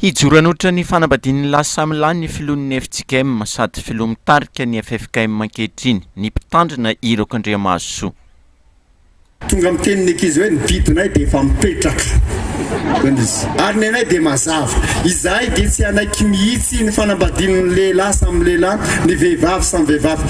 Hijoro hanolotra ny fanambadian'ny lahy samy lahy ny filohan'ny FJKM sady filoha mitarika ny ffkm ankehitriny, ny mpitandrina Hiroko Andriamahasoa. Tonga miteny ny ankizy hoe ny didinay dia efa mipetraka, hoy izy, ary ny anay dia mazava. Izahay dia tsy hanaiky mihitsy ny fanambadian'ny lehilahy samy lehilahy, ny vehivavy samy vehivavy.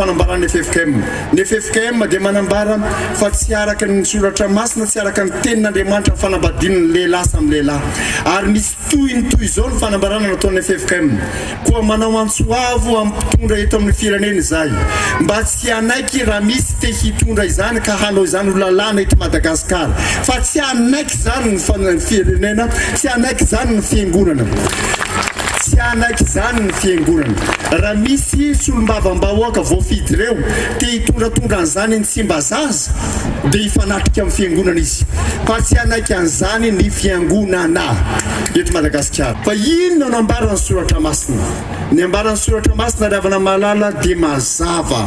Fanambaran'ny ffkm. Ny ffkm dia manambara fa tsy araka ny soratra masina, tsy araka ny tenin'Andriamanitra ny fanambadian'ny lehilahy samy lehilahy. Ary misy tohiny toy izao ny fanambarana nataon'ny ffkm, Koa manao antso avo amin'ny mpitondra eto amin'ny firenena izahay mba tsy hanaiky raha misy te hitondra izany ka hanao izany ho lalàna eto Madagasikara, fa tsy hanaiky. izany ny firenena, tsy hanaiky izany ny fiangonana, tsy hanaiky izany ny fiangonana. Raha misy solombavambahoaka voafidy ireo te hitondratondra an'izany ny Tsimbazaza, dia hifanatrika amin'ny fiangonana izy, fa tsy hanaiky an'izany ny fiangonana eto Madagasikara. Fa inona no ambaran'ny soratra masina? Ny ambaran'ny soratra masina ry havana malala dia mazava.